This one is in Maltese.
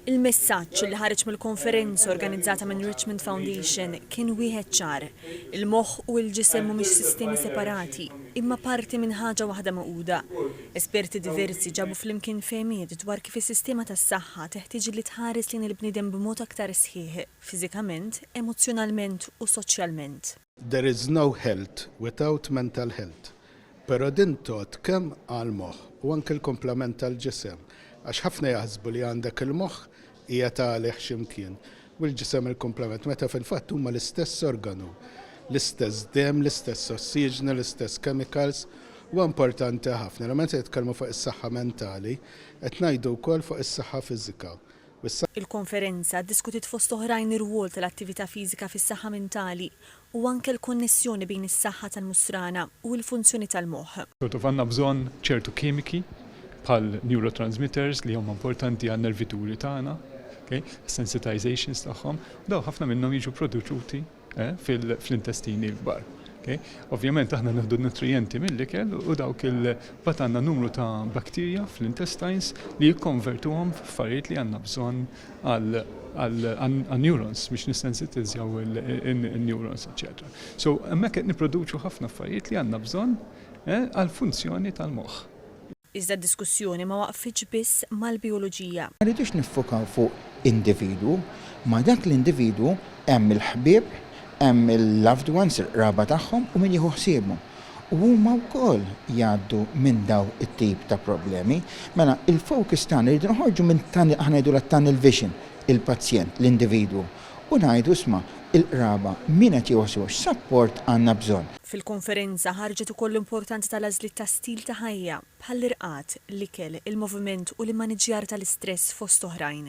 Il-messaġġ li ħareġ mill-konferenza organizzata minn Richmond Foundation kien wieħed ċar, il-moħħ u l-ġisem mhumiex sistemi separati, imma parti minn ħaġa waħda magħquda. Esperti diversi ġabu flimkien fehmiet dwar kif is-sistema tas-saħħa teħtieġ li tħares lejn il-bniedem b'mod aktar sħiħ, fiżikament, emozzjonalment u soċjalment. There is no health without mental health. Pero din tgħodd kemm għall-moħħ u anke l-kumplament tal-ġisem għax ħafna jaħsbu li għandek il-moħħ qiegħed għalih xi mkien u l-ġisem il-kumplament meta fil-fatt huma l-istess organu, l-istess demm, l-istess ossiġnu, l-istess chemicals. Huwa importanti ħafna li meta nitkellmu fuq is-saħħa mentali qed ngħidu wkoll fuq is-saħħa fiżika Il-konferenza ddiskutiet fost oħrajn ir-rwol tal-attività fiżika fis-saħħa mentali u anke l-konnessjoni bejn is-saħħa tal-musrana u l-funzjoni tal-moħħ. Sort of għandna bżonn ċertu kimiki bħal neurotransmitters li huma importanti għan-nervituri tagħna, ok, sensitizations tagħhom, u dawn ħafna minnhom jiġu produċuti fl-intestini l-kbar. Ovvjament aħna nieħdu n-nutrijenti mill-ikel u dawk il-bat għandna numru ta' bakterja fl-intestines li jikkonvertuhom f'affarijiet li għandna bżonn għal-neurons biex nissensitizzjaw il-neurons, eċċetera. So, hemmhekk qed nipproduċu ħafna affarijiet li għandna bżonn għall-funzjoni tal-moħħ. Iżda d-diskussjoni ma waqfitx biss mal-bijoloġija. Ma rridux niffokaw fuq individwu. Ma' dak l-individwu hemm il-ħbieb, hemm il-loved ones, il-qraba tagħhom u min jieħu ħsiebu. U huma wkoll jgħaddu minn dawn it-tip ta' problemi. Mela, il-focus tagħna, irridu noħorġu minn, aħna ngħidulha t-tunnel vision, il-pazjent, l-individwu, u ngħidu isma' il-qraba min qed jgħożżu u x'sapport għandna bżonn. Fil-konferenza ħarġet ukoll l-importanza tal-għażliet ta' stil ta' ħajja, bħall-irqad, l-ikel, il-moviment u l-immaniġġjar tal-istress fost oħrajn.